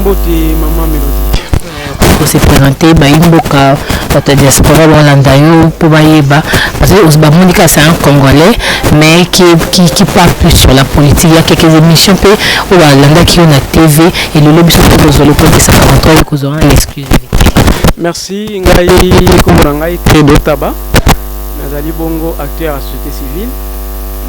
mbote mama melodie kose présente bayimboka bato ya diaspora balanda yo mpo bayeba bamoni kaka c'est un congolais mais qui, qui, qui part plus sur la politique ya quelques émissions mpe oyo balandaki yo na tv elelo biso mpe kozwa lokotisa contrat yo kozwa en exclusivité merci ngai komona ngai tedo taba Nazali bongo acteur ya société civile.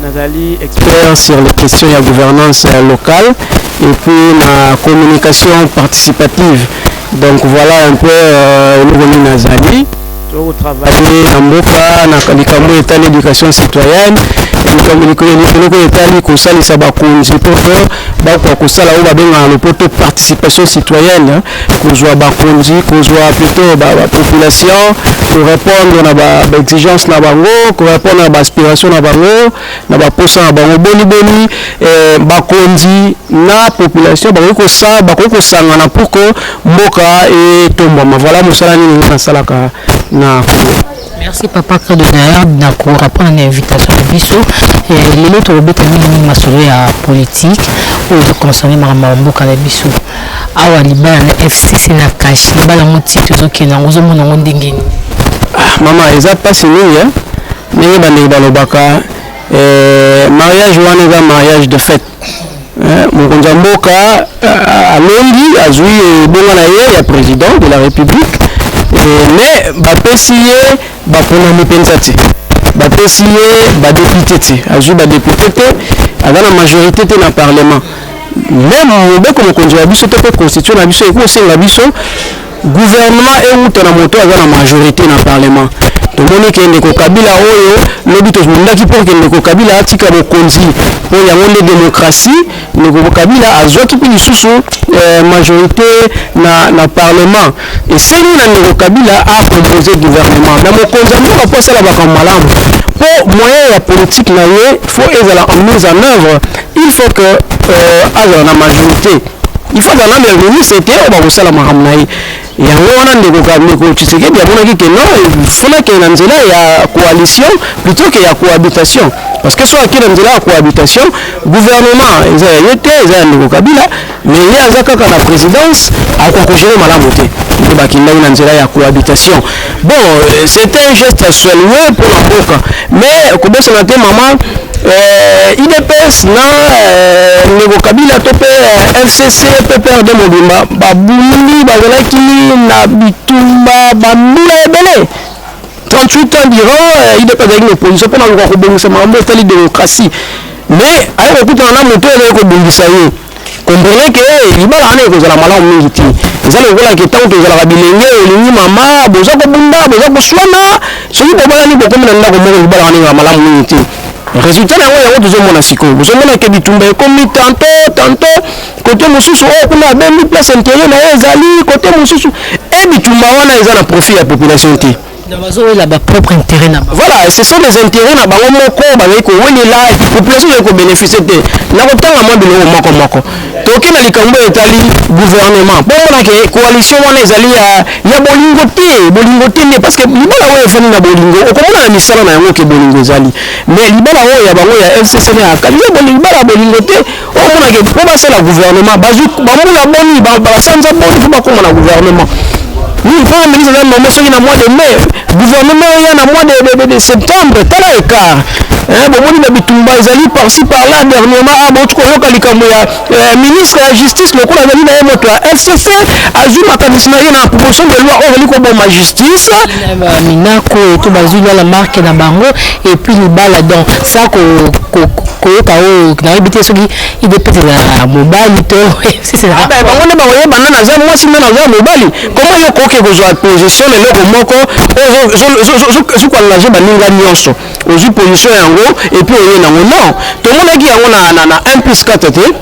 Nazali expert sur les questions ya gouvernance locale et puis na communication participative. Donc voilà un peu euh, eloko nini nazali tokotravaille na mboka na likambo etali éducation citoyenne eloko etali kosalisa bakonzi mpo bakoka kosala oyo babengaka na lopoto participation citoyenne kozwa bakonzi kozwa plutôt bapopulation korépondre na baexigence na bango korépondre na baaspiration na bango na baposa na bango boniboni eh, bakonzi na population bakoki kosa bakoki kosangana pour que mboka etombwama voilà mosala nini ngai nasalaka na congo Merci papa Credo d'ailleurs na ko répondre na invitation na biso eh, lelo tokobeta mingi mingi masolo ya politique oyo ezoconcerne makambo ya mboka na biso awa libala na FCC na cash libala yango ti tozokende yango ozomona yango ndenge nini ah, mama eza mpasi mingi eh. ndenge bandeko balobaka eh, mariage wana eza mariage de fête mokonzi ya mboka euh, alongi azwi ebonga na ye ya président de la république mais bapesi ye baponami mpenza te bapesi ye badepute te azwi badepute te aza na majorité te na parlement meme mobeko mokonzi wa biso to mpe constitution na biso ekosenga biso Gouvernement ewuta na moto aza na majorite na parlement tomoni ke ndeko kabila oyo lobi tozundaki mpo ke ndeko kabila atika bokonzi mpo yango nde demokrasi ndeko kabila azwaki mpe lisusu eh, majorité na, na parlement esengeli na ndeko kabila acompose gouvernement na mokonzi ya mboka mpo asala makambo malamu mpo moyen ya politike na ye fo ezala en mise en œuvre il faut que euh, azala na majorité il faut azala nanu ya ministre te oyo bakosala makambo na ye yango wana ndeko ndeko tshisekedi amonaki ke non fona ke na nzela ya coalition plutôt ke ya cohabitation parce que soki ake na nzela ya cohabitation gouvernement eza ya ye te eza ya ndeko kabila mais ye aza kaka na présidence akoka kogere malamu te nde bakendaki na nzela ya cohabitation Bon, euh, c'était un geste à saluer pour la boca. Mais, euh, comment ça m'a été, maman euh, IDPS na euh, ndeko kabila to mpe euh, fcc mpe prd mobimba babulumi bazalaki na bitumba bambula ebele 38 ans durant euh, idps azalaki na opposition mpo na koka kobongisa makambo etali démocratie mais ayaki kokutana na moto oyo azalaki kobongisa ye comprenez que libala wana ekozala malamu mingi te eza lokola ke ntango tozalaka bilenge olingi mama boza kobunda boza koswana soki bobalani bokomi na ndako moko libala wana ezala malamu mingi te résultat na yango yango tozomona sikoyo bozomona ke bitumba ekomi tanto tanto kote mosusu oyo oh, kuna abendi place intere na ye ezali kote mosusu e bitumba wana eza na profit ya population te Voilà, ce sont des intérêts na bango moko bazali kowelela population ezali kobeneficie te na kotanga mwa biloko moko moko toke na likambo oyo etali gouvernement mpo omona ke coalition wana ezali ya, ya bolingo te bolingo te nde parce que libala oyo efandi na bolingo okomona na misala na yango ke bolingo ezali mais libala oyo ya bango ya fcc na ya kabila libala ya bolingo te okomona ke mpo basala gouvernement bazwi bambula boni basanza boni mpo bakoma na gouvernement Oui, premier ministre aza nommé soki na mois de mai gouvernement oya na mois de, de, de, de septembre tala écart hein, bomoni na bitumba ezali parci par là dernièrement a ah, bauti koyoka likambo ya euh, ministre ya justice lokola azali na ye moto ya fcc azwi makanisi na ye na proposition de loi oyo azali koboma justice minako to bazwi lala marke na bango epuis libala donc sa koyoka oyo nayebi te soki idps ezalaka mobali to ah, bango nde bakoyebana naza mwasi nde naza mobali koma yo koke kozwa position na eloko moko ozokwalelaje baninga nyonso ozwi position yango epuis oye nango non tomonaki yango na 1 plus 4 te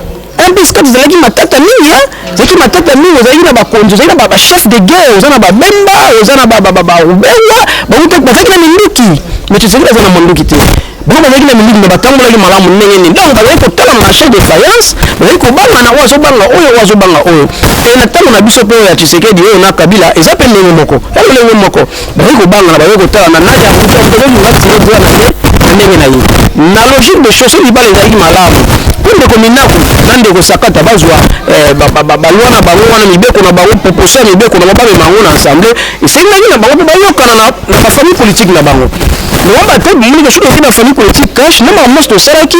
mpc kati ezalaki matata mingi ezalaki matata mingi ozalaki na bakonzi ozalaki na bachef de guerre oza na babemba oza na barubenga bango mpe bazalaki na minduki mais tozalaki baza na manduki te bango bazalaki na minduki me batambolaki malamu ndenge nini donc bazalaki kotala marché de faillance bazalaki kobanga na oyo azobanga oyo oyo azobanga oyo e na ntango na biso mpe oyo ya tshisekedi oyo na kabila eza mpe ndenge moko ya lolenge moko baye kobanga na baye kotala na nani akoki akutaki mongati ye bwana ye na ndenge na ye na logique de chose libala ezalaki malamu mpo ndeko minaku na ndeko sakata bazwa eh, balwa na bango wana mibeko na bango proposition ya mibeko na bango bamema yango na ensemble esengaki na bango mpe bayokana na bafamille politique na bango nowamba te bimoni kasuki ezali bafamille politique cash na makambo nyonso tosalaki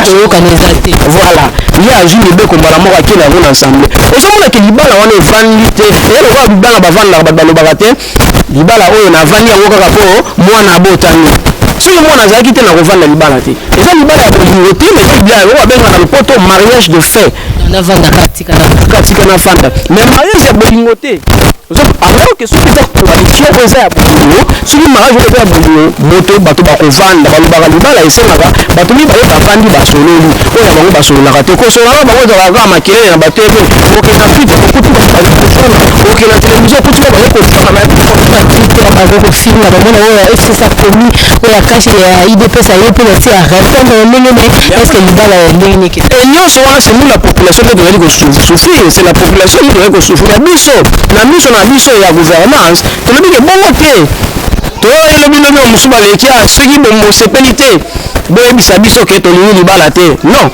toyokana eza te voilà ye azwi mibeko mbala moko akenda yango na ensemble ozomona ke libala wana evandi te eye lokola libala bavandaka bato balobaka te libala oyo navandi yango kaka mpo mwana abotami soki mwana azalaki te nakovanda libala te eza libala ya bolingo te mais eza libala yango babenga na lopoto mariage de fait katika na fanda mais mariage ya bolingo te alors que soki eza coalition oyo eza ya bololo soki mariage oyo eza ya bololo moto bato bakovanda balobaka libala esengaka bato mibale bavandi basololi oyo ya bango basololaka te kosolana bango ezalaka kaka makelele na bato ebe okenda fite okuti bato bazali kofana okenda televizio okuti ba bazali kofana bato kofinga bamona oyo ya fcc akomi oyo ya kashi ya idps aye mpe basi ya répondre ndenge nini eske libala ya ndenge nini te. Et nionso wana c'est nous la population nde tozali ko souffrir, c'est la population nde tozali ko souffrir. Mais biso na miso na biso ya gouvernance tolobi ke bongo te. Toyokaki lobi lobi ba mosusu baleki ah soki bosepeli te boyebisa biso ke tolingi libala te. Non,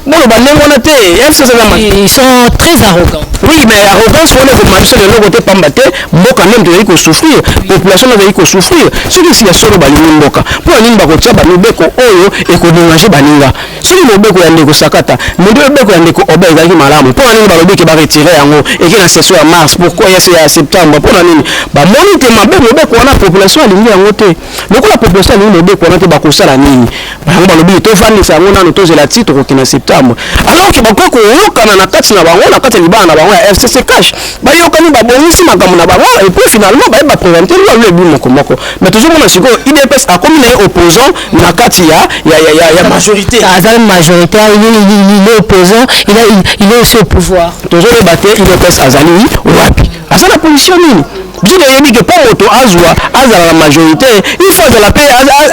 boloba ndenge wana te. Est-ce que eza na Ils sont très arrogants. Oui, mais arrogance wana ekomema biso na eloko te pamba te mboka nde tozali ko souffrir, population nde tozali ko souffrir. Soki ya solo balingi mboka, mpo na nini bakotya ba mibeko oyo eko derange baninga? soki mobeko ya ndeko sakata mobeko ya ndeko obe ezalaki malamu mpo na nini balobi ke baretire yango eke na session ya mars pourquoi ya ya septembre mpo na nini bamoni te mabe mobeko wana population alingi yango te lokola population alingi mobeko wana te bakosala nini bango balobi tofandisa yango nano tozela ti tokokende na septembre alors ke bakoki koyokana na kati na bango na kati ya libala na bango ya fcc cash bayokani babongisi makambo na bango epuis finalement baye baprevente lwa lwa ebi mokomoko mais tozomona sikoyo idps akomi na ye opposant na kati ya ya ya ya, ya majorité aza majorité il est il est opposant il a il est aussi au pouvoir tozo yeba te il est pesa azali wapi aza na position nini biso toyebi ke mpo moto azwa azala na majorité il faut azala mpe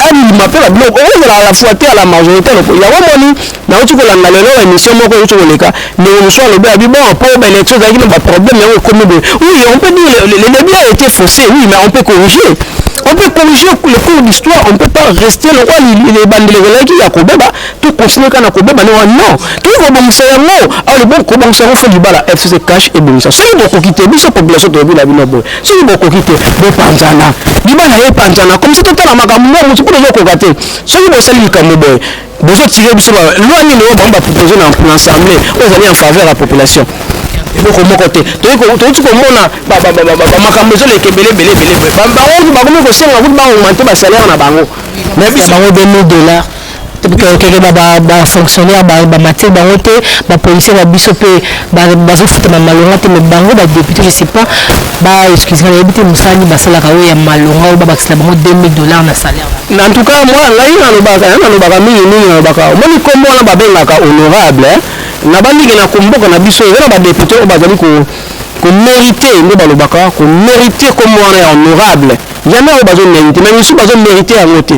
andima mpe babiloko okozala à la fois te à la majorité yango omoni Nawuti kolanda lelo emission moko ewuti koleka ndeko mosusu alobi abi bon po ba election ezalaki na ba problème yango ekomi boye oui on peut dire le, le, le bien a été faussé oui mais on peut corriger on peut corriger le cours d'histoire on peut pas rester lokola ebandeli ezalaki ya kobeba to continuer kaka na kobeba ndenge wana non toki kobongisa yango alors bon kobongisa yango fo libala fcc cash ebongisa soki bokoki te biso population toyebi na bino boye soki bokoki te bopanzana libala epanzana komisa totala makambo mwa motu mpo tozokoka te soki bosali likambo boye Bozo tirer biso ba loi nini oyo bango ba proposer na pour l'ensemble oyo ezali en faveur ya population. Eloko moko te. Toyuti komona makambo ezoleka ebele ebele ebele boye. Bango bakomi kosenga kutu ba augmenter ba salaire na bango. Mais biso bango 2000 dollars keke ba fonctionnaire ba mateli bango te ba policier na biso mpe bazofutama malonga te mais bango ba député je sais pas ba excuse nga nayebi te mosala nini basalaka oyo ya malonga oyo babakisela bango 2000 dollars na salaire na tout cas moi ngai nalobaka ya nalobaka mingi mingi nalobaka omoni nkombo wana babengaka honorable na bandiki na komboka na biso eza na badepute oyo bazali ko komerite nde balobaka komerite nkombo wana ya honorable jamais oyo bazomerite mais misusu bazomerite yango te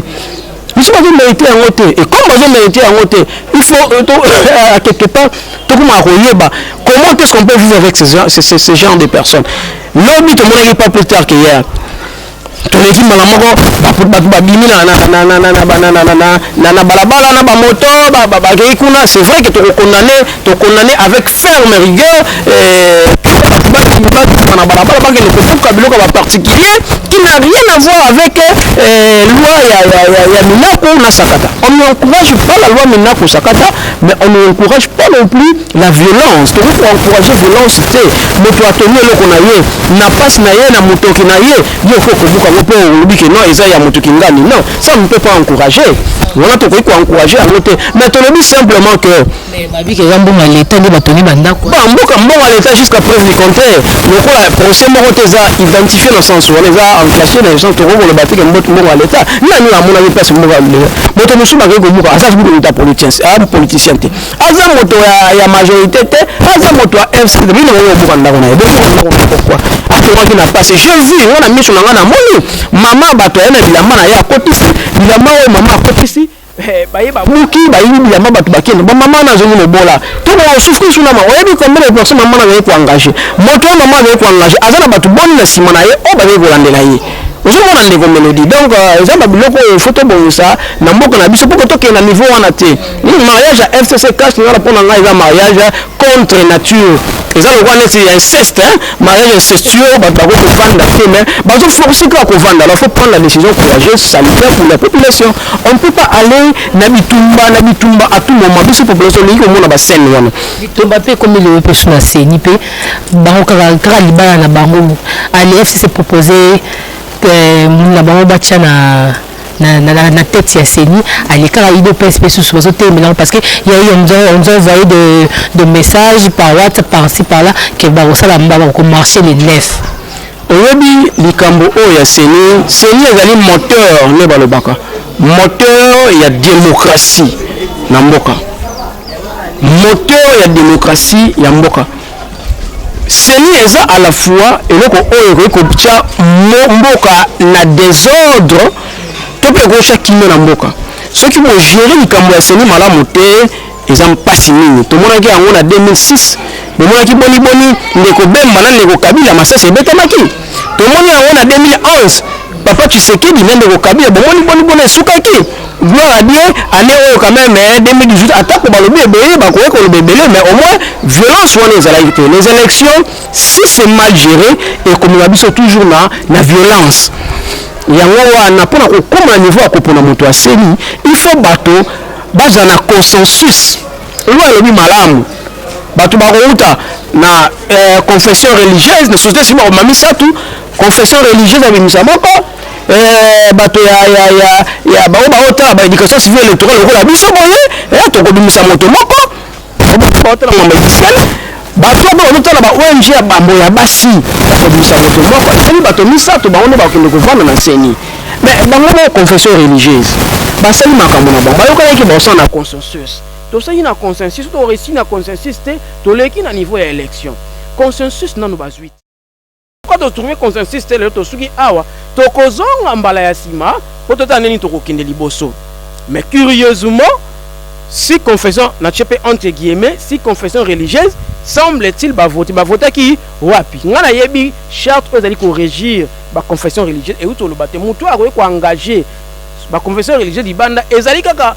biso bazo merite yango te et comme bazo merite yango te il faut euh, to, euh, à quelque part tokomaka koyeba comment est-ce qu'on peut vivre avec ce, ce, ce, ce genre de personnes lobi tomonaki pas plus tard que hier toleki mbala moko bato babimi na balabala na bamoto bakei kuna c'est vrai que tokokondane To condamne avec ferme rigueur batu bakima bakima na balabala bakende kobuka biloko ya ba particulier qui n'a rien à voir avec euh, loi ya, ya, ya, ya Minaku na Sakata. On n'encourage pas la loi Minaku Sakata, mais on n'encourage pas non plus la violence. Donc pour encourager violence, te moto atongi eloko na ye na pasi na ye na motoki na ye yo okoki kobuka yango mpo olobi ke non eza ya moto kingani non ça ne peut pas encourager wana tokoki koencourager yango te mais tolobi simplement que Mais Mabika eza mbongo ya l'Etat nde batongi ba ndako. Ba mboka mbongo ya l'Etat jusqu'à preuve du contraire. Lokola procès moko te eza identifié na sens wana eza en cachet na sens toko koloba te ke mbongo ya l'Etat. Nani oyo amonaki place mbongo ya l'Etat? Moto mosusu bakei kobuka aza kutu moto ya politicien, ah politicien te. Aza moto ya ya majorité te, aza moto ya FC te. Bino bokoki kobuka ndako na ye. Bobuka ndako na pourquoi? Atongaki na pasi. J'ai vu nga na miso na nga namoni mama bato aye na bilamba na ye akotisi bilamba oyo mama akotisi Eh, buki bayebi bilamba bato bakende bamama na azongi mobola to baosufri su nama oyebi combien de personne mama nazali koengage moto oyo mama azali koengage aza na bato boni na nsima na ye oyo oh, bazali kolandela ye ozomona ndeko melodi donc euh, eza na biloko oyo fo tobongisa na mboka na biso mpo tokende na niveau wana te hmm, mariage ya fcc cash nana mpo na ngai eza mariage contre nature eza lokola neti ya inceste mariage incestueux bato bako kovanda te mais bazo force kaka kovanda alors faut prendre la décision courageuse salutaire pour la population on ne peut pas aller na bitumba na bitumba à tout moment biso population olingi komona bascène wana bitumba mpe ekomi lelo mpe so na seni mpe bango kaka kaka libala na bango ale fcc propose euh, na bango batya na na, na, na, na tête ya CENI alekaka udps mpe susu bazotelemela parce que ya yo nous ont envoyé de, de message par whatsapp par ci par là ke bakosala mba bakomarche le 9 oyebi likambo oyo ya CENI CENI ezali moteur nde balobaka moteur ya démocratie na mboka moteur ya démocratie ya mboka Ceni eza a la fois eloko oyo ekoki kotia mboka na desordre to mpe ekoki kotia kimia na mboka. Soki bo gerer likambo ya ceni malamu te eza mpasi mingi. Tomonaki yango na 2006 bomonaki boni boni ndeko Bemba na ndeko Kabila masasi ebetamaki. tomoni yango na 2011 papa tshisekedi na ndeko kabila bomoni boni bona esukaki gloire à dieu année oyo quand même 2018 eh, atako balobi ebele bakoki koloba ebele mais au moins violence wana ezalaki te les élections si c'est mal géré ekomema biso toujours na, na violence yango wana mpona kokoma na niveau ya kopona moto aseli il faut bato bazala na consensus Oui alobi malamu bato bakouta na eh, confession religieuse na société civile bakoma misato confession religieuse ya bimisa moko eh, bato ya, ya, ya, ya bango baotala ba éducation civile électorale lokola biso boye eh, tokobimisa moto moko baotala mambo officielle bato oyo bazotala ba ong ya bambo ya basi bakobimisa moto moko ezali bato misato bango nde bakokende kovanda na seni mais bango na confession religieuse basali makambo na bango bayokanaki baosala na conscience consensus tosali na consensus to resi na consensus te toleki na niveau ya election consensus nanu bazwi te pourquoi to trouver consensus te lelo tosuki awa tokozonga mbala ya sima po totala ndeni tokokende liboso mais curieusement si confession na tie pe entre guillemets si confession religieuse semble-t-il bavote bavotaki wapi ngai nayebi charte oyo ezali koregir baconfession religieuse euti oloba te motu oyo akoki koengage baconfession religieuse libanda ezali kaka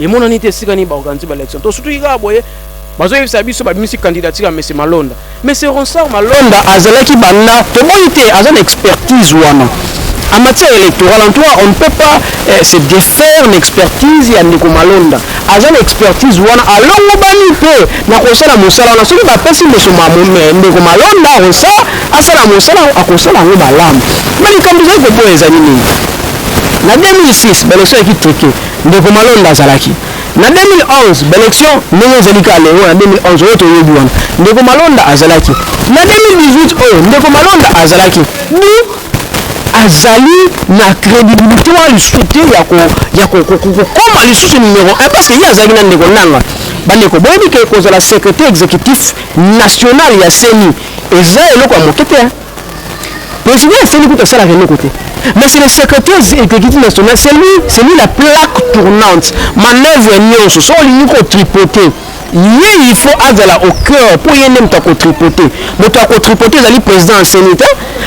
Emonani te esika nini ba organiser ba election. To sutuki kaka boye bazoyebisa biso babimisi candidature ya mese malonda mese ronsard malonda azalaki banda tomoni te aza na expertise wana en matière électorale en tout cas on ne peut pas eh, se défaire na expertise ya ndeko malonda aza na expertise wana alongobani mpe na kosala mosala wana soki bapesi mese ndeko malonda ronsard asala mosala akosala yango malamu ma likambo ezali koboya ezali nini na 2006 baleso yaki trike Ndeko Malonda azalaki na 2011 ba election ndenge ezali kaka lelo na 2011 oyo toyebi wana ndeko Malonda azalaki na 2018 oyo ndeko Malonda azalaki du azali na credibilité wana lisusu te ya kokoma lisusu numero 1 parce que ye azalaki na ndeko nanga bandeko boyebi ke kozala secrétaire exécutif national ya ceni eza eloko ya moke te President asali kutu asalaka eloko te. Mais c'est le secrétaire exécutif national, c'est lui, c'est lui la plaque tournante. Manœuvre nyonso, so olingi ko tripoter, ye il faut azala au cœur mpo ye nde moto akotripote moto akotripote ezali président enseni te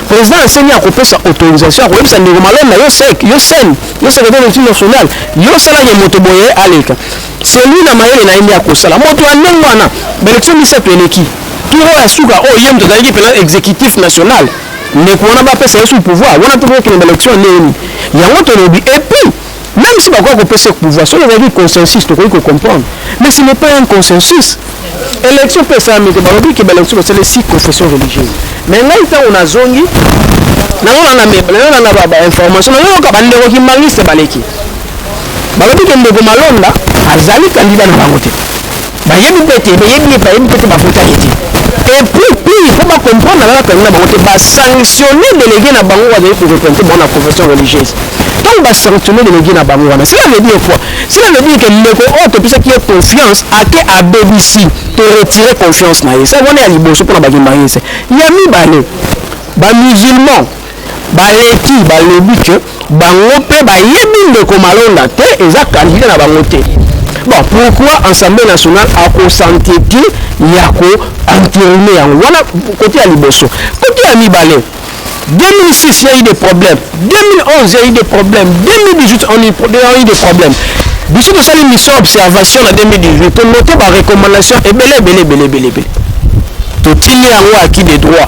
président enseni akopesa autorisation akoyebisa ndeko malone na yo sek yo seni yo secrétaire d'étude nationale yo osalaki moto boye aleka Celui na mayele na ye nde akosala. Moto ya ndenge wana, ba elections misato eleki, tour oyo ya suka oyo ye moto azalaki pena executif national, ndeko wana ba pesa ye sous pouvoir, wana pe bo kende ba elections ya ndenge nini? Yango to lobi. Et puis, meme si ba koki ko pesa ye pouvoir, soki ezalaki consensus to koki ko comprendre. Mais ce n'est pas un consensus. Elections pe esalami te, ba lobi que ba elections ba sali si confession religieuse. Mais ngai tango na zongi, nazo landa ba informations, nazo yoka ba ndeko kimbanguiste ba leki. balobi ke ndeko malonda azali kandida na bango te bayebi mpe te bayebi ye bayebi mpe te bavotaki te epuis pire mpo bacomprendre nalala kandida na bango te basanctionne delege na bango bazali koreprente bango na profession religieuse ntango basanctionne delege na bango wana cela veut dire quoi cela veut dire ke ndeko oyo topesaki ye confiance ake abebisi to retire confiance na ye sa wana ya liboso mpona bakimba ye se ya mibale bamusulman Baleki balobi que bango pe bayebi ndeko Malonda te eza candidat na bango te. Bon pourquoi ensemble national ako senteti ya ko enterine yango wana cote ya liboso. Cote ya mibale 2006 ya eu des problèmes 2011 ya eu des problèmes 2018 on eu des problèmes biso tosali mission observation na 2018 tonote ba recommandation ebele ebele ebele ebele ebele totindi yango acquis de droit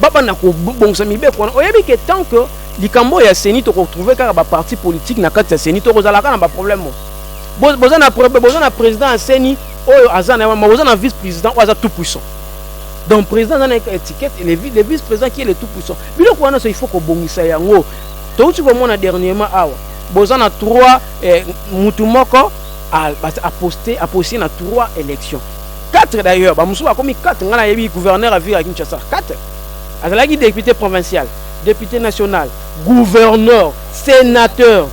babanda kobongisa mibeko wana oyebi ke tant que likambo oyo ya seni tokotrouve kaka baparti politike na kati ya seni tokozala kaka na baproblème oyo boza na boza na président ya seni oyo aza na ma boza na vice président oyo aza tout puissant donc président aza na étiquette le vice président qui est le tout puissant biloko wana so il faut kobongisa yango touti komona dernièrement awa boza na trois eh, mutu moko aposte aposte na trois élections 4 d'ailleurs ba mususu bakomi 4 nga nayebi gouverneur ya ville ya Kinshasa 4 azalaki député provincial député national gouverneur sénateur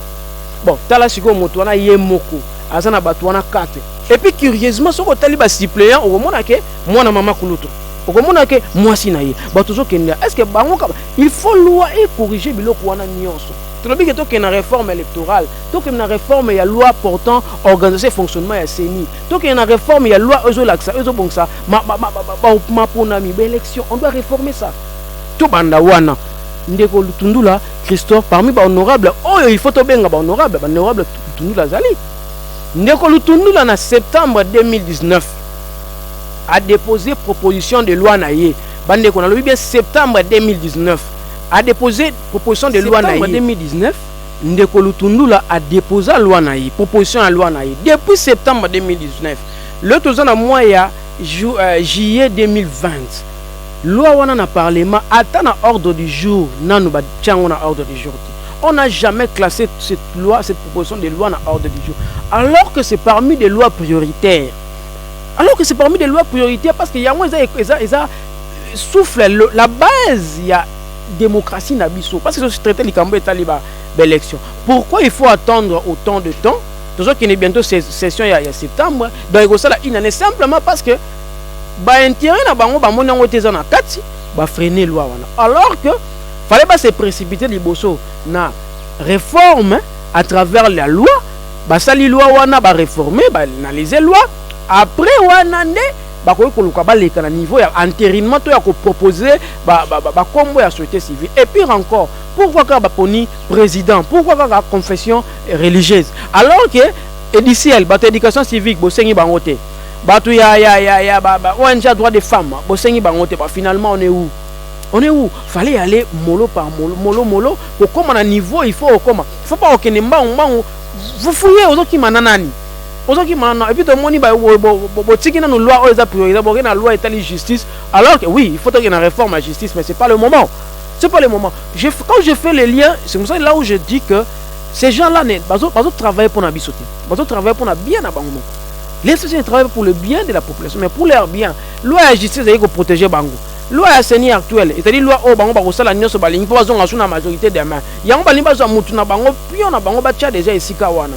bon tala sikoyo moto wana ye moko aza na bato wana 4 et puis curieusement soki otali ba suppléant okomona ke mwana mama kulutu okomona ke mwasi na ye bato ozokende est ce que bango kaba il faut loi ecorrige biloko wana nyonso tolobi ke tokende na réforme électorale tokende na réforme ya loi portant organisation et fonctionnement ya ceni Tokende na reforme ya loi oyo ezolakisa oyo ezobongisa maponami ba election on doit reformer ça tobanda wana ndeko lutundula christophe parmi bahonorable oyo il faut tobenga bahonorable bahonorable lutundula azali ndeko lutundula na septembre 2019 adepose proposition de loi na ye bandeko nalobi bien septembre 2019 adepose proposition de loi na ye 2019 Ndeko Lutundula a deposa loi na ye, proposition ya loi na ye depuis septembre 2019. Lelo toza na mois ya juillet 2020. Loi wana na parlement ata na ordre du jour nanu ba tia yango na ordre du jour te. On n'a jamais classe cette loi, cette proposition de loi na ordre du jour. Alors que c'est parmi des lois prioritaires. Alors que c'est parmi des lois prioritaires parce que yango eza eza eza souffle la base ya democratie na biso parce que tozo traiter likambo etali ba élection pourquoi il faut attendre autant de temps tozokende bientôt session ya, ya septembre donc ekosala une année simplement parce que baintérêt na bango bamoni yango te eza na kati bafrene loi wana alors que fallait ba se précipiter liboso na réforme à travers la loi basali loi wana baréforme baanalyse loi après wana nde bakoki koluka baleka na niveau ya enterinement to ya ko proposer ba, ba, ba, ba kombo ya société civile et pire encore pourquoi kaka baponi président pourquoi kaka confession religieuse alors que ediciel bato ya éducation civique bosengi bango te bato ya, ya, ya, ya ba, ba ong ya droit des femmes bosengi bango te ba finalement on est où on est où fallait aller molo par molo molo molo kokoma na niveau il faut okoma il faut pas okende mbangu mbangu vous fouillez ozokima na nani Ozo kima na non et puis to moni ba bo tiki na no loi oyo eza priorité bo na loi etali justice alors que oui il faut que na réforme à justice mais c'est pas le moment c'est pas le moment je quand je fais les liens c'est pour ça là où je dis que ces gens là ne bazo bazo travailler pour na biso te bazo travailler pour na bien na bango les sociétés travaillent pour le bien de la population mais pour leur bien loi à justice est ko protéger bango loi ya seni actuelle etali loi oyo bango bakosala nyonso balingi mpo bazonga su na majorité demain yango balingi bazwa mutu na bango pion na bango batya deja esika wana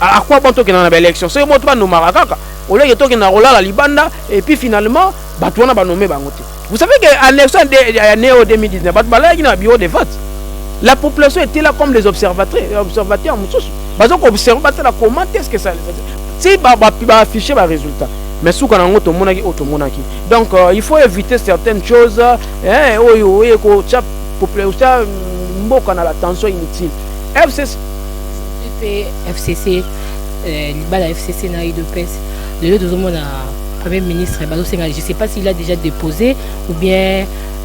A quoi bon tokenda na ba election soki moto ba nomaka kaka au lieu que tokenda kolala libanda et puis finalement bato wana ba nomme bango te vous savez que en election ya neo 2019 bato balalaki na bureau de vote la population était là comme les observateurs euh, observateurs mosusu bazo ko observer batala comment est-ce que ça si ba ba, ba afficher ba résultat mais suka na yango tomonaki oyo tomonaki donc euh, il faut éviter certaines choses eh, oyo oye kotya mboka na la tension inutile FCC Pe FCC eh, libala ya FCC na UDPS lelo tozomona premier ministre bazosenga je sais pas s'il a déjà déposé ou bien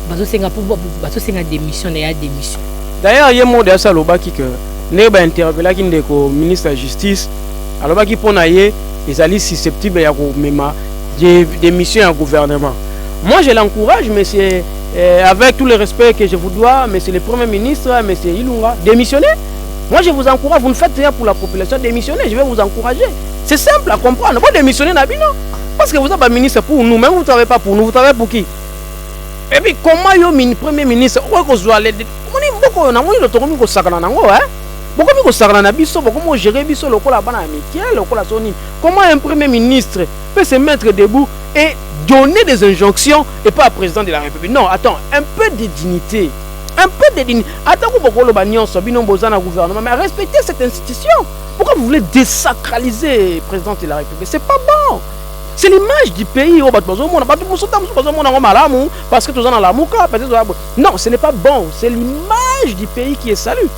bazosenga po bazosenga démission na ya démission d'ailleurs ye mode asi alobaki que ndenge bainterpelaki ndeko ministre ya justice alobaki mpo na ye ezali susceptible ya komema démission ya gouvernement moi je l'encourage monsieur euh, avec tout le respect que je vous dois monsieur le premier ministre monsieur ilunga démissionner Moi je vous encourage, vous ne faites rien pour la population, démissionnez, je vais vous encourager. C'est simple à comprendre. Bon, démissionnez Nabino. Parce que vous êtes un ministre pour nous, mais vous ne travaillez pas pour nous, vous travaillez pour qui Et puis comment yo mini premier ministre, okoki kozwa le moni mboko yo nango yo tokomi kosakana nango hein bokomi kosakana na biso bokomi kogere biso lokola bana ya mike lokola so nini comment un premier ministre peut se mettre debout et donner des injonctions et pas à président de la république non attends un peu de dignité un peu de dignité ata ko bokoloba nyonso bino boza na gouvernement mais respecter cette institution pourquoi vous voulez désacraliser présidente de la république c'est pas bon c'est l'image du pays oyo oh, bato bazomona bato mosusu ta mosusu bazomona yango malamu parce que toza na lamuka peut-être toza non ce n'est pas bon c'est l'image du pays qui est salut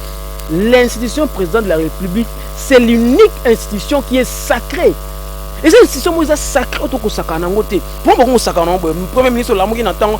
l'institution présidente de la république c'est l'unique institution qui est sacrée eza institution moko eza sacré oyo tokosakana yango te mpo bakongosakana yango boye premier ministre olamuki na ntango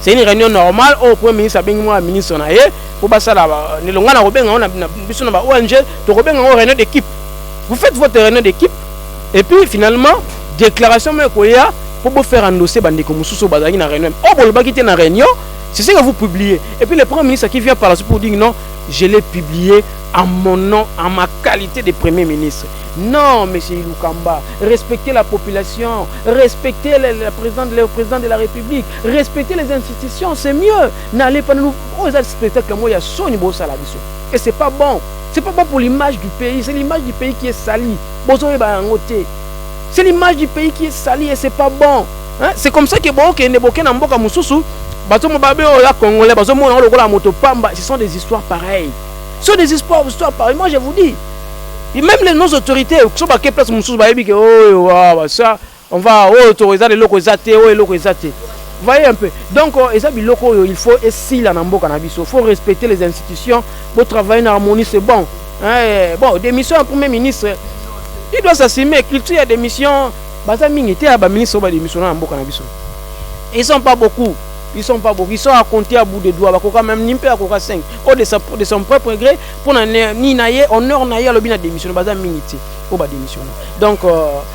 C'est une réunion normale oyo Premier ministre abengi mwa ministre na ye mpo basala nelonga na kobenga yango na biso na ba ONG tokobenga yango réunion d'équipe. Vous faites votre réunion d'équipe et puis finalement déclaration moko ekoya mpo bofaire endosser bandeko mosusu oyo bazalaki na réunion oyo oh, bolobaki te na réunion c'est ce que vous publiez et puis le premier ministre qui vient par la suite pour dire non je l'ai publié à mon nom, à ma qualité de Premier ministre. Non, Monsieur Iloukamba, respectez la population, respectez le, le, président, le président de la République, Respecter les institutions c'est mieux n'allez pas nous oyo eza spectacle moko ya soni bosala biso et c'est pas bon c'est pas bon pour l'image du pays c'est l'image du pays qui est salie bozoyeba yango te c'est l'image du pays qui est salie et c'est pas bon hein? c'est comme ça que bokende boke na mboka mosusu bazomona babe oyo ya congolais bazomona yango lokola moto pamba ce sont des histoires pareilles ce sont des histoires histoires pareilles moi je vous dis et même les nos autorités soki bake place mosusu bayebi ke oyo oh, wa basa On va oyo oh, to eza eloko eza te, oyo oh, eloko eza te. voyez un peu donc euh, eza biloko oyo il faut esila na mboka na biso faut respecter les institutions bo travailler na harmonie c'est bon eh, bon démission ya premier ministre il doit s'assumer culture ya démission baza mingi te ya baministre oyo badémissiona na mboka na biso ils sont pas beaucoup ils sont pas beaucoup ils sont à compter à bout de doigts bakoka même ni mpe akoka 5 oyo de, sa, de son propre gré mpo na nini na ye honneur na ye alobi na démissiona baza mingi te oyo badémissiona donc euh,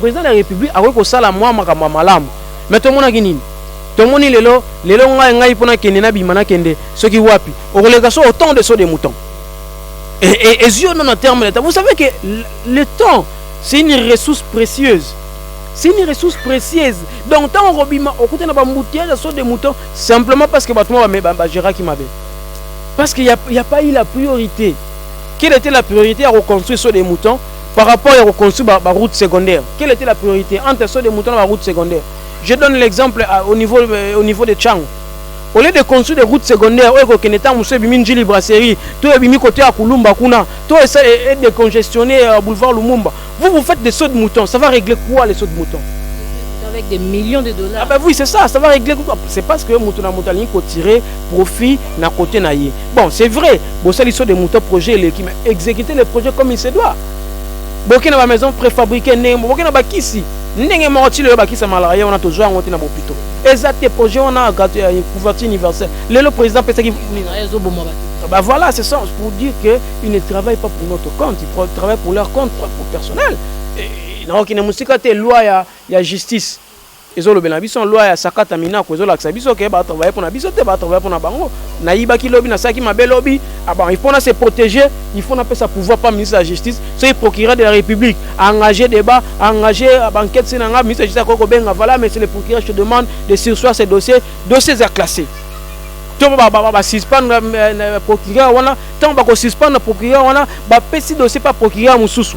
President de la Republique akoki kosala mwa makambo ya malamu, mais tomonaki nini? Tomoni lelo lelo ngai ngai mpo nakende nabima nakende soki wapi okoleka so autant de saut de mouton ezwi yo na terme leta. Vous savez que le temps c'est une ressource précieuse c'est une ressource précieuse donc ntango okobima okuta na bambutillage ya saut de mouton simplement parce que bato mwa bagéraki mabe parce qu'il n'y a, a pas eu la priorité quelle était la priorité à reconstruire saut de mouton Par rapport ya ko construire ba route secondaire, quelle était la priorité entre ceux de Muto na ba route secondaire? Je donne l'exemple au niveau euh, au niveau de Chango. Au lieu de construire des routes secondaires, oyo ekokende ntango mosusu ebimi Ndjili brasserie, to ebimi côté ya Kulumba kuna, to esa et décongestionner euh, boulevard Lumumba. Vous vous faites des sauts de moutons, ça va régler quoi les sauts de moutons? avec des millions de dollars. Ah ben oui, c'est ça, ça va régler quoi C'est parce que Moutouna Moutali tirer profit na côté naïe. Bon, c'est vrai, bosali saut de mouton projet eleki, mais exécuter le projet comme il se doit. Boke na ba maison préfabriquée ndenge moko, boke na bakisi ndenge moko ti lelo bakisa malaria wana tozwa yango te na bopito. Eza te projet wana gato ya couverture universelle. Lelo président pesaki Bah voilà, c'est ça, pour dire qu'ils ne travaillent pas pour notre compte, ils travaillent pour leur compte, pour personnel. Et, na okina musika te loi ya, ya justice. ezo lobela na biso loi ya sakata minaku ezo lakisa biso ke ba travailler pona biso te ba travailler pona bango na yibaki lobi na saki mabe lobi ah bon il faut na se protéger il faut na pesa pouvoir pa ministre de la justice soki procureur de la république a engagé débat a engagé ah, ba enquête sina nga ministre de la justice ko benga voilà monsieur le procureur je te demande de sursoir ce dossier dossier za classé to ba ba ba suspendre euh, euh, procureur wana tant ba ko suspendre procureur wana ba pesi dossier pa procureur mususu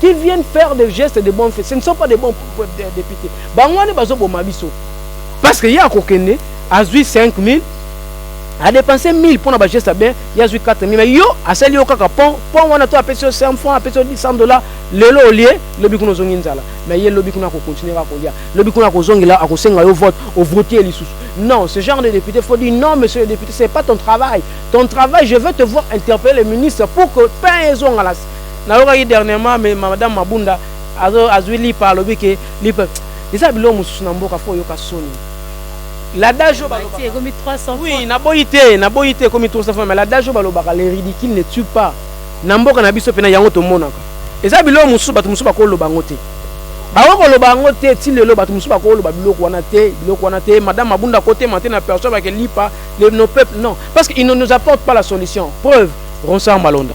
qui viennent faire des gestes de bonne foi ce ne sont pas des bons députés bango wana bazoboma biso parce que ye akokende azwi 5000 adepense 1000 mpo na bageste ya bien ye azwi 4000 mais yo asali yo kaka pont pont wana to apesi yo 100 franc apesi yo 100 dollar lelo olie lobi kuna ozongi nzala mais ye lobi kuna akokontinue kaka kolia lobi kuna akozongela akosenga yo vote ovote ye lisusu non ce genre de député faut dire non monsieur le député c'est pas ton travail ton travail je veux te voir interpeller le ministre pour que pain ezonga nayokaki dernièrement mais madame Mabunda azo azui lipa alobi ke lipa eza biloko mosusu na mboka fo oyoka soni l'adage oyo balobaka ekomi 300 oui naboyi te naboyi te ekomi 300 fois mais l'adage oyo balobaka le ridicule ne tue pas na mboka na biso mpena yango tomonaka eza biloko mosusu bato mosusu bakoloba yango te bakoki koloba yango te ti lelo bato mosusu bakoloba biloko wana te biloko wana te madame abunda kotema te na personne bakelipa nos peuples non parce que il ne nous apporte pas la solution preuve ronsar malonda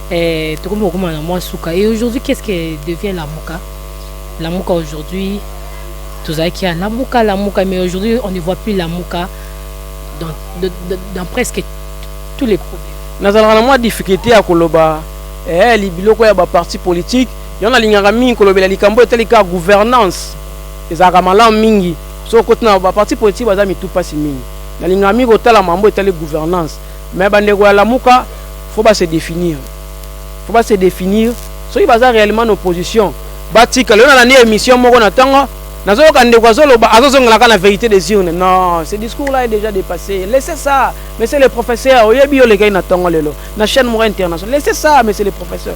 Eh, tokomi kokoma na mwa suka et aujourd'hui qu'est-ce que devient lamuka lamuka aujourd'hui tozalaki ya lamuka lamuka mais aujourd'hui on ne voit plus lamuka dans, de, de, dans presque tous les problèmes nazalaka na mwa difficulté ya koloba eh, biloko ya baparti politique yango nalingaka mingi kolobela likambo etali kaka gouvernance ezalaka malamu mingi soki okoti na baparti politique baza mitu mpasi mingi nalingaka mingi kotala mambo etali gouvernance Mais ba ndeko ya lamuka faut ba se definir faut ba se definir soki baza reellement na opposition batika lelo na nani emission moko na tango nazo yoka ndeko azo loba azo zongela ka na verite des urnes non ce discours là est déjà dépassé laissez ça monsieur le professeur oyebi yo lekaki na tango lelo na chaîne moko internationale laissez ça monsieur le professeur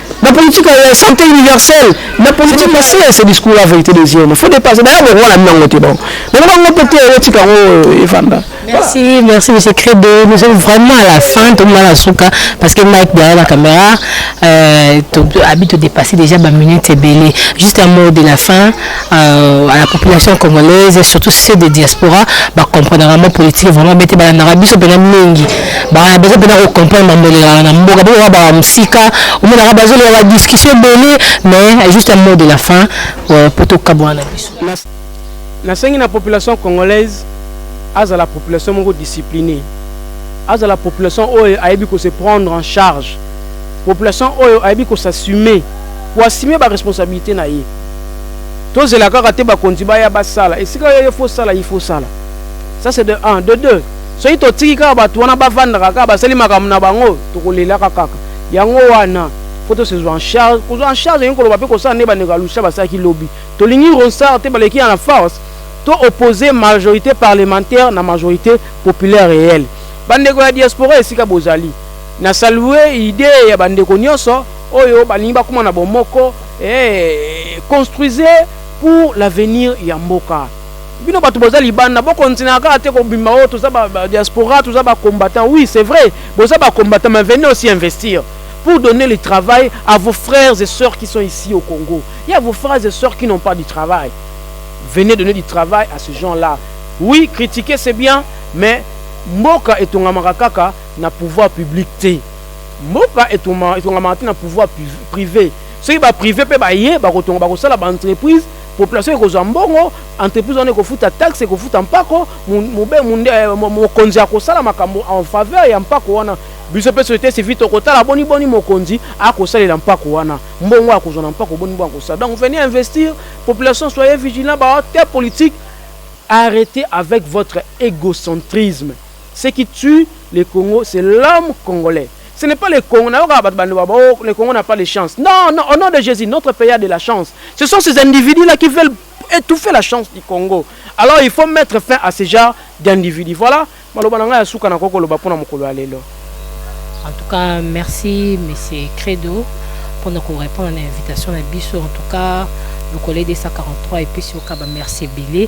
na politique ya santé universelle na politique na se ce discours la vérité des yeux il faut dépasser d'ailleurs bongo na nango te bon bongo bango peut être otika yango euh, evanda Merci, merci Monsieur Credo. Nous sommes vraiment à la fin, tout le monde à souka, parce que Mike derrière la caméra, euh, habite de dépasser déjà ma minute et belé. Juste un mot de la fin, Euh, à la population congolaise et surtout ceux de diaspora bacomprendre vraiment politique vraiment bete balandaka biso mpena mingi baza mpena kocomprendre bambolelaka na mboka bokoka baa mosika omonaka bazoloka badiscussion ebele mais juste un mot de la fin euh, mpo tokabwana na biso nasengi na population congolaise azala population moko discipline azala population oyo ayebi ko se prendre en charge population oyo ayebi ko s'assumer koassume baresponsabilité na ye tozela kaka te bakonzi baya basala esika yo faut sala il faut sala ça c'est de 1 de 2 soki totiki kaka bato wana bavandaka kaka basali makambo na bango tokolelaka kaka yango wana faut tosezwa en charge kozwa en charge elingi koloba mpe kosala nde bandeko ya lusha basalaki lobi tolingi ronsard te baleki ya na force to oppose majorité parlementaire na majorité populaire réelle bandeko ya diaspora esika bozali na salue idee ya bandeko nyonso oyo balingi bakoma na bomoko eeh construisez pour l'avenir ya mboka bino batu boza libanda bo continuaka kaka te kobima oyo oh, toza ba, ba diaspora toza ba combattant oui c'est vrai boza ba combattant mais venez aussi investir pour donner le travail à vos frères et sœurs qui sont ici au Congo il y a vos frères et sœurs qui n'ont pas du travail venez donner du travail à ce gens là oui critiquer c'est bien mais mboka etongamaka kaka na pouvoir public te Mboka etongamaka te na pouvoir prive. Soki ba prive pe baye bakotonga bakosala ba entreprise, population ekozwa mbongo, entreprise wana ekofuta taxe, ekofuta mpako, euh, mokonzi akosala makambo en faveur ya mpako wana. Biso pe société civile tokotala boni boni mokonzi akosalela mpako wana, mbongo akozwa na mpako boni boni akosala. Donc venez investir, population soyez vigilant, ba acteurs politiques arrêtez avec votre égocentrisme. Ce qui tue le Congo c'est l'homme congolais ce n'est pas le Congo nayokaka bato bande baba oh le Congo n'a pas de chance non non au nom de Jésus notre pays a de la chance ce sont ces individus là qui veulent étouffer la chance du Congo alors il faut mettre fin à ce genre d'individus voilà maloba na ngai ya suka nakoki koloba mpo na mokolo ya lelo en tout cas merci monsieur Credo mpo na korépondre na invitation na biso en tout cas lokole 243 epesi okaba merci ebele